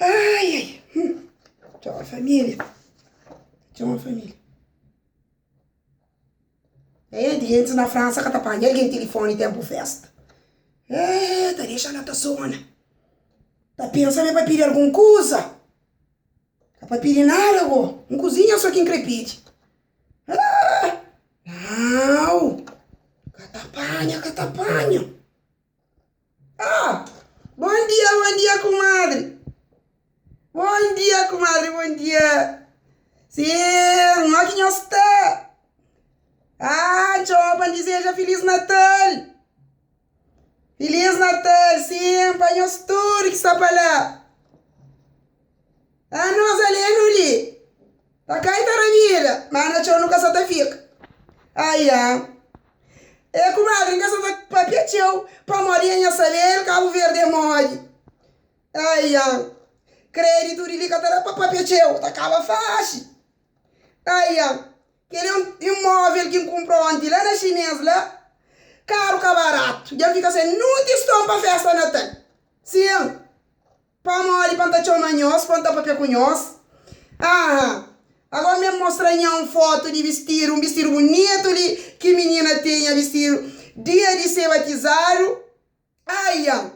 Ai, ai, hum. Txoma família, txoma família. Êê, di antis na Fransa ka ta panha algen tilifoni ténpu fésta. Êê, ta dexa la ta sona. Ta pensa ma é pa pidi algun kuza. Ka pa pidi nada bo. N kuzinha so ki N kre pidi. Aaah! Nau! Ka ta panha, ka ta panha. Ah! Bon dia, bon dia kumadri. Bon dia kumadri, bon dia. Sii, ma ki nhos sta? Aaah, N txoma pa N dizeja Filis Natal. Filiz Natal sim pa nhos tudu ki sta pa la. Anu nos ali e nu li. Ta kai ta rabida, ma na txeu nu ka sa ta fika. Aia, e kumadri N ka sa ta papia txeu pamodi e nha sabe el Kabu Verdi e modi. Aia, kreditu di li ka ta da pa papia txeu, ta kaba faxi. Aia, kel-li é un imóvel ki N kunpra ónti la na Xinês la. Karu ka baratu. Dja N fika sen nunti ston pa fésta natal. Sin, pamodi pa N ta txoma nhos, pa N ta pâpia ku nhos. Aha, agóra mé N mostra nha un fotu di bistidu, un bistidu bunitu li ki minina tinha bistidu dia di se batizadu. Ayan,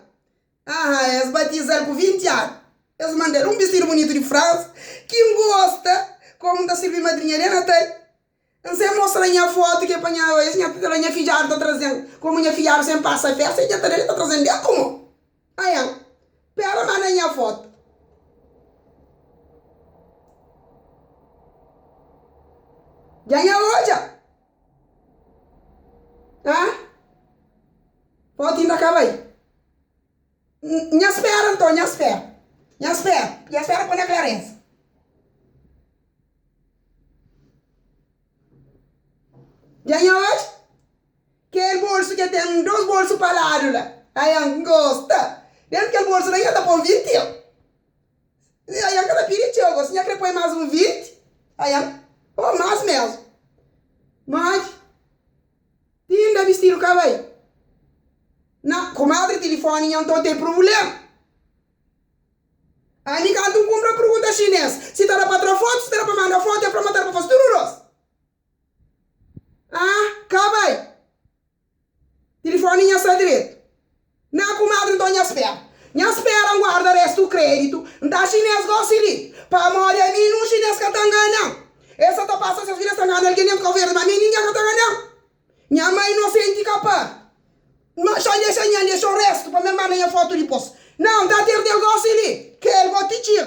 Aha, es batiza-l ku vinti anu. Es manda-l un bistidu bunitu di Fransa ki N gosta kómu N ta sirbi madrinha de Natal. N sen mostra-l nha fotu ki el panha oji, nha fidju ta fla, Nha fidjadu ta traze-m kómu nha fidjadu sen pasa fésta. El dja ta ben, el ta traze-m ben kómu. Ayan, Péra, manda-m nha fotu. Dja nha odja. Hã? Poti inda ka bai? Nha spera nton, nha spera. Nha spera, nha spera pa nha klarensa. Dja nha odja kel bolsu ke ten dos bolsu pa ladu la. Ayan, N gosta. Dentu kel bolsu la nha ta pon 20 eu. Ayan ka ta pidi txeu, gosi nha kre poi mas un 20, ayan, o mas mesmu. No agi. Ti inda bistidu ka bai. Na, kumadri tilifoni nha nton ten pruvulema. Ami kantu nkumpra purgunta xinês si ta da pa tra fotu, si ta da pa manda fotu, el fla ma ta da pa fasi tudu rosa. Ah ka bai Tilifoni nha sta dretu Nah kumadri nton nha spera Nha spera N guarda restu kreditu N ta xinês gosi li Pamodi ami nun xinês ka ta ngana-m Es sa ta pasa ses vida sa ngana algen Dentru Kau-Verdi ma mi ningen ka ta ngana-m Nha mai inosenti ka pa N xa N dexa nha N dexa-u restu pa mi N marda nha fotu dipos Nah N ta terdel gosi li Kel goti txir